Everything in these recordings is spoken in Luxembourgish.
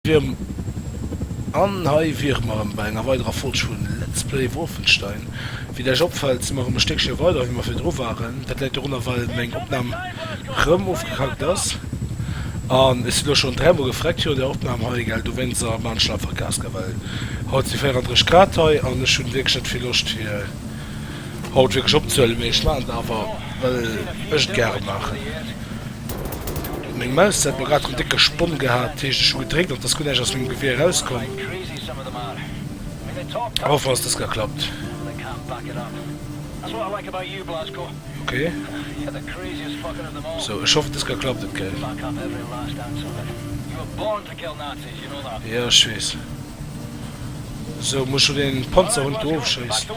Wierm An hei wiere mer erëm bei enger weiderer Folg vu Let's Play Wolfenstein. Wéi der iech opfält, si mer erëm e Stéckche weider wéi mer virdru waren. Dat läit dorunner, well meng Opnam rëm ofgekackt ass. An ech si lo schonn dräimol gefreckt virun der Opnam hei, gell, dowéinst ass mer an d'Schlapp verkaske, well haut si 34 Grad hei an ech hunn wierklech net vill Loscht fir haut wierklech opzehuelen, mee ech maachen et awer well ech et gäre maachen. Meng Maus hat mer grad en décke Sponn gehat, heescht ech hu gedréckt an et ass guer näischt aus mengem Gewier erauskomm. Hoffen ass dëst geklappt. Ok sou ech hoffen dëst geklappt huet gell. Jo ech weess. Sou muss ech lo deen Panzerhund do ofschéissen.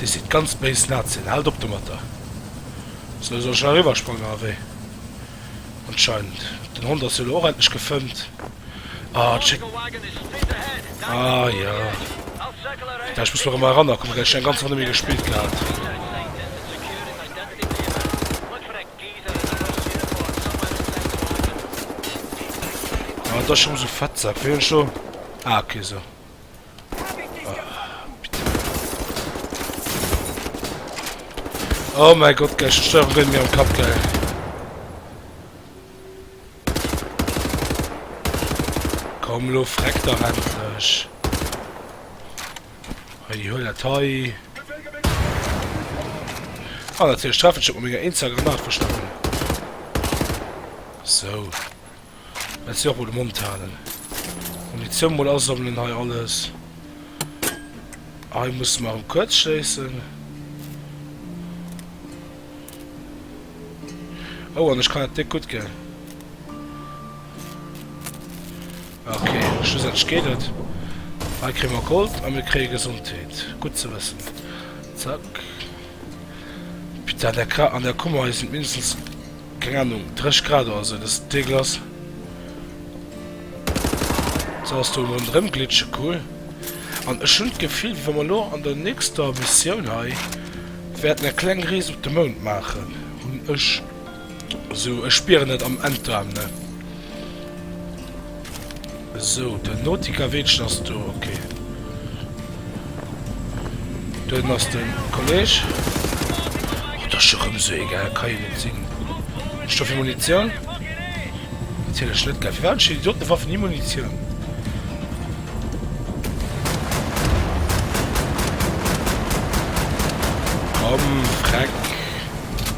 Dir sidd ganz béis Nazien, haalt op domatter! Sou, soll ech eriwwersprangen? Awee, anscheinend. Den Hond ass jo elo och endlech gefëmmt. Ah, et schéckt. Ah jo, da ech muss mech erëm erannerkommen, gell, ech hunn eng ganz Ronn net méi gespillt gehat. Ah, et ass schonn esou, Fettsack, wéi hunn ech do. Ah, ok, sou. Oh mein Gott, gleich die Steuerung wird mir am Kopf geil. Komm, lo, freck doch endlich. Hey, die Höhle Toy. Ah, natürlich treffe ich schon mega Instagram nachverstanden. So. well se och mol de Mond halen an déi zwou mol asammelen hei alles. Hei musse mer erëm kuerz schléissen. Oh, an ech kann dat net gutt ginn. Okay, schlussendlech geet et. Hei kréie mer Gold a mir kréie Gesondheet. Gutt ze wëssen. Zack. Putain, an der Kummer hei sinn mindestens Keng Ahnung, drécht grad oder sou, dass et déck ass. Sou ass do emol en Dremglitsche, cool. An ech hunn d'Gefill, wéi wa mer elo an der nächster Missioun hei wäerten eng kleng Rees op de Mound maachen, hunn ech esou, ech spieren et am Enterm, ne? Esou, den Nautica Weedchen ass do, ok. Dohinner ass den Kolleg. Oh, dat ass jo rëm esou egal, kann jo net sinn. Ech do fir Munitioun? Natierlech net, gell. Firwat hunn ech fir Idiotenwaffen ni Munitioun? Komm, Freck.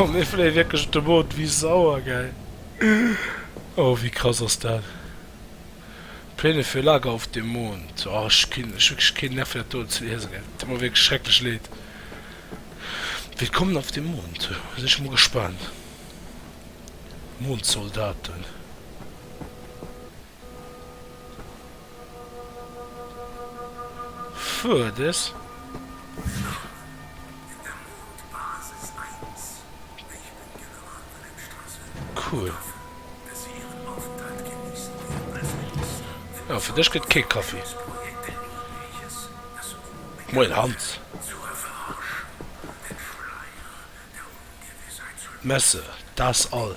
Oh mir fléie wierklech op de Mond, wéi sauer geil! Oh wéi krass ass dat! Pläne für Lager auf dem Mond, oh ech hu wierklech keen Nerv fir dat do ze liesen, et deet mer wierklech schrecklech leed. Willkommen auf dem Mond, sinn ech mol gespaant, Mondsoldaten. Fuerdes. Cool. Oh fir dech gëtt kee Kaffi. Moien Hans. Messe, da's all.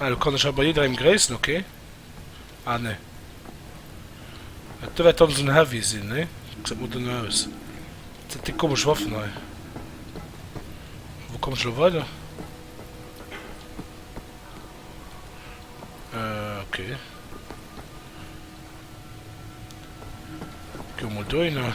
Ah, do kann ech aber jiddereen gréissen, ok. Ah nee. Ah, do wärt dann esou en Heavy sinn, nee? Gesäit mol dunn aus. Wat sinn déi komesch Waffen hei? Wou kommen ech elo weider? Euh, ok. Goe mol dohinner.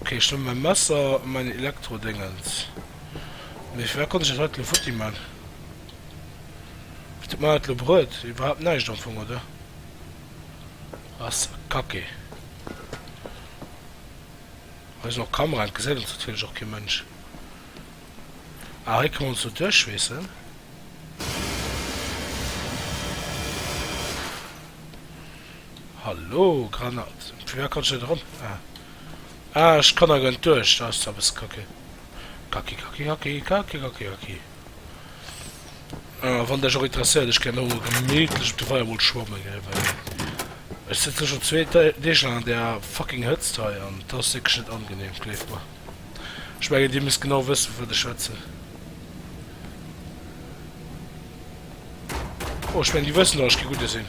Ok ech hun mein Messer an mein Elektro Déngens, mee fir wat konnt ech dat haut elo futti man? Wat huet man dat elo bruet? Iwerhaapt naischt am Fong oder? Ass kacke. Hei sin och Kameraen, et gesäit ons natierlech och kee Mensch. Ah hei kann man sou duerchschweessen. Hallo Granat, vun wär kann ech net eran? Ah ah ech kann awer net duerch, dat ass zwar bësse kacke. Kacki kacki kacki kacki kacki kacki. Ah wann dech och interesséiert, ech gär homo gemittlech op de Weier mol schwamme gei, well ech sëtzen schon zwee Deeg lang an där fucking Hëtzt hei an et ass wierklech net angenehm, gleeft mer. Ech mengen dir misst genau wëssen vu wat ech schwätzen. Oh ech mengen déi wëssen och ech gi gudde sinn.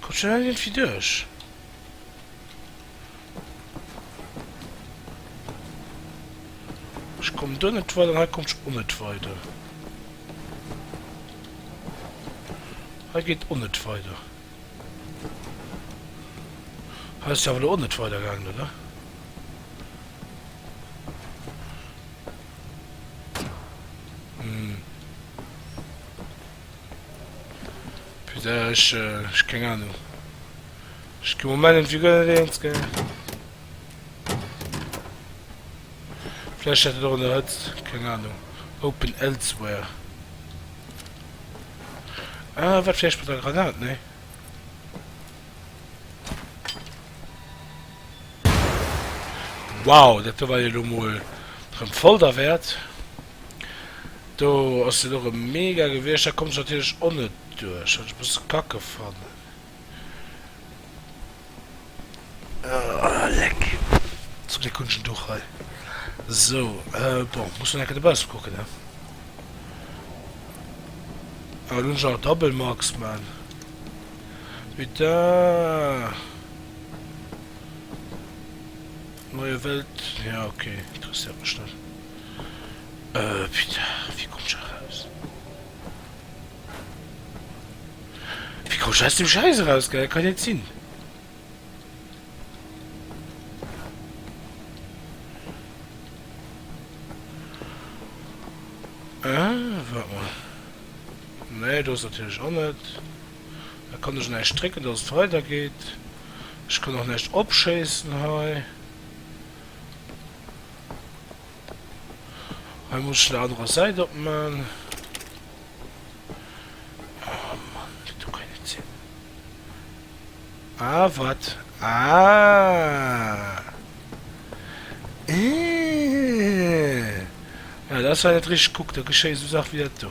Kommt schon all iergendwéi duerch. Ech komm do net weider an hei kommt ech o net weider. Hei geet o net weider. Hei ass jo awer elo o net weider gaangen, oder? Hm. Putain, ech, äh, ech keng Ahnung. Ech gin Moment irgendwie guer net eens, gell. Vielleicht hat et och an der Hëtzt, keng Ahnung. Open elsewhere. Ah, wat vielleicht mit der Granat, ne? Wow, dat do war jo lo mol rem voll derwärt. Do ass deen och e mega gewiecht, da komms natierlech o net duerch, wat ech e bësse kacke fannen. Oh leck, zum Gléck hunn ech en Duch hei. Sou, bon, muss nach enke dobausse kucken, ne? Ah, elo hunn ech nach e Double Max, man. Putain! Neue Welt, jo ok, interesséiert mech net. Putain, wéi komm ech eraus? Wéi komm ech aus deem Schäiss eraus, gell? Kann jo net sinn. Waart mol. Nee, do ass natierlech och net. Da kann ech näischt drécken dass et weider geet. Ech kann och näischt opschéissen hei. Hei muss ech der anerer Säit opman. Oh Mann, dat do kann jo net sinn. Ah wat? Ah! Eeh! Ah dat ass hei net richteg. Kuck, da geschéie sou Saache wéi dat do.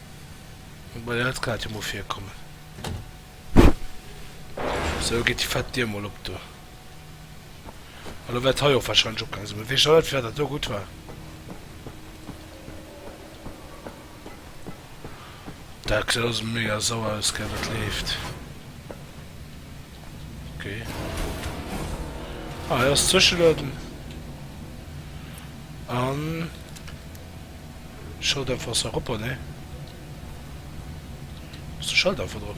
Bon jo et kann dat jo mol virkommen. Sou geet déi fett Dier mol op do. An lo wäert hei och wahrscheinlech opgaange sinn. Mee weess ech och net firwat dat do gutt war. Dat gesäit alles mega sauer aus gell wat leeft. Ok. Ah hei ass Zwischelueden. An. Schalldämpfer sans repos ne muss de Schalldämpfer drop.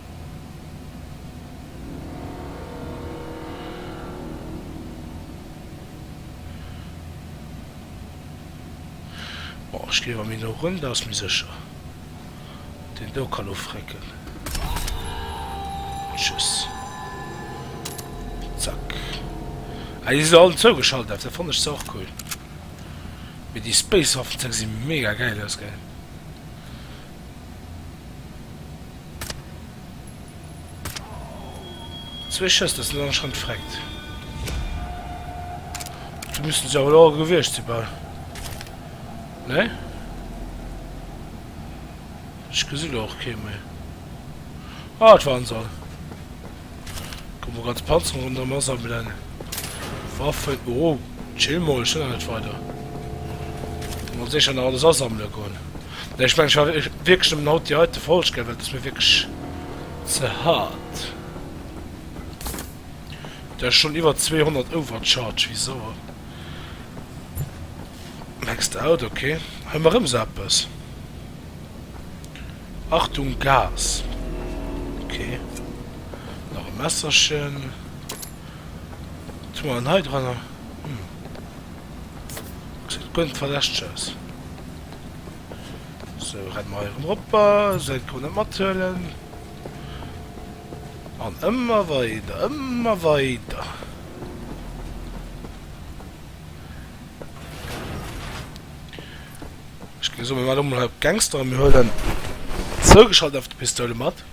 Bon ech gin mer méi no run, dat ass méi secher. Deen do ka lo frécken. Tschüss. Zack. Ah déi sin all zougeschalt F, dat fannen ech zwar och cool. Mee déi Space Waffen ze gesi mega gäil aus gell. Zwee Schëss, dat sinn alleguer schonn d'Freckt. Do missten se awer elo och gewiescht sinn, bal, nee? Ech gesi lo och kee méi. Ah, et waren se all. Komm mol ganz Panzerung ronderem asammelen. Waffen, oh, chill mol, ech hun nach net weider. Komm mol secher nach alles asammelen goen. Nee, ech mengen ech war wierklech nemmen haut déi heite Folg gell, well et ass mir wierklech ze hard. Hun der schon iwwer 200 overcharge, wéi sauer. Maxed out, ok, hun mer rem sou eppes. Achtung Gas! Ok, nach e Messerchen. Wat hu mer dann hei dran? Hm, gesäit guer net verdächteg aus. Sou, renne mer hei erëm eropper, sou eng ka mer net mathuelen. An ëmmer weider, ëmmer weider. Ech ginn esou, mir maachen emol hei op Gangster a mir huelen zougeschalt einfach de Pistoule mat.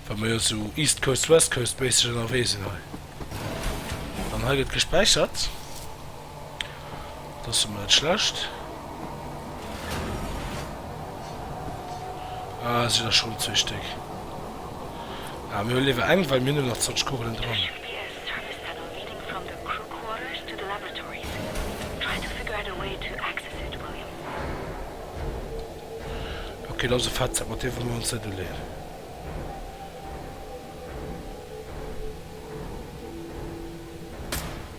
Well mer jo esou East Coast, West Coast méisseg ënnerwee sinn hei. An hei gëtt gespäichert. Dat ass emmer net schlecht. Ah, si der schon zwee Stéck. Ah, mir liewer eng, well mir hunn nach 20 Kugelen dran. Okay, dat ass e Fettsack, mat deem wëlle mir ons net uleeën.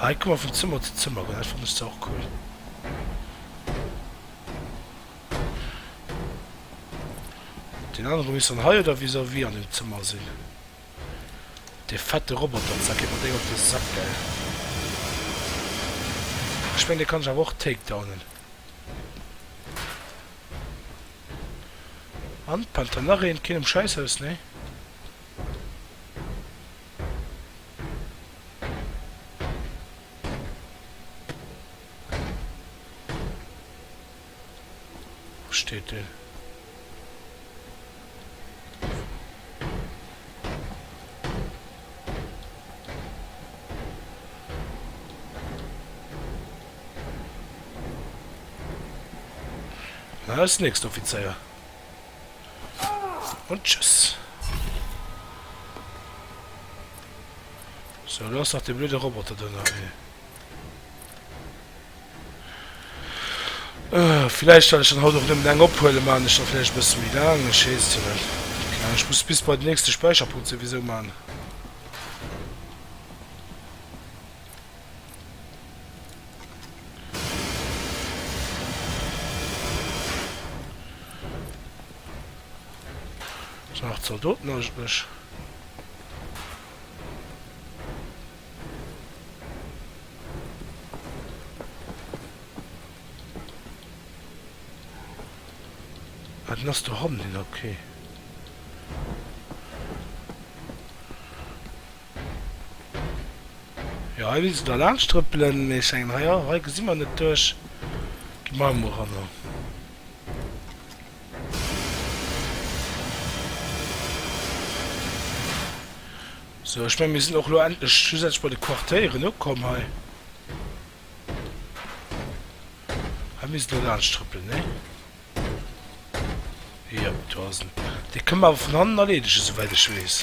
Hei kann man vun Zëmmer zu Zëmmer goen, dat fannen ech zwar och cool. Deen anere misst dann hei oder vis-à-vis an dem Zëmmer sinn. Dee fette Roboter, zack, geet mer déi op de Sack, gell. Ech mengen, dee kann ech awer och takedownen. An, Panther, nach een, keen um Schäisshaus, nee? steet deen? Hä ass nächst Offizéier. Und tschüss. So, lo ass nach de blöde Roboter do nach ee. Äh, vielleicht soll ich dann haut och nëmmen eng ophuelen, man ech dann vielleicht bësse méi laang, ech weess jo net. Mä ech muss bis bei den nächste Speicherpunkt souwisou man. Nach Zaldoten aus Bësch. Ah, den ass do hannen, okay. Jo hei misst en da laanscht trëppelen, mee ech mengen hei och, hei gesi mer net duerch. Gi mer hei mol eranner. Sou, ech meng mir sinn och elo endlech schlussendlech bei de Quartieren ukomm hei. Hei misst en da laanscht trëppelen, nee? Jo, do ass en. Dee kënne mer awer vun hannen erleedegen, souwäit ech weess.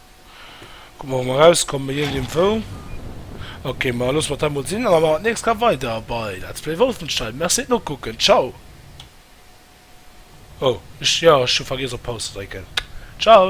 Kucken mer, ob mer erauskomme bei iergend eem Fou. Ok, ma loosse mer dat emol sinn a mer maachen d'nächst Kap weider bei Let's Play Wolfenstein. Merci fir d'Nokucken. Tschau! Oh, ech, jo, ech hu vergiess op Paus ze drécken. Tschau!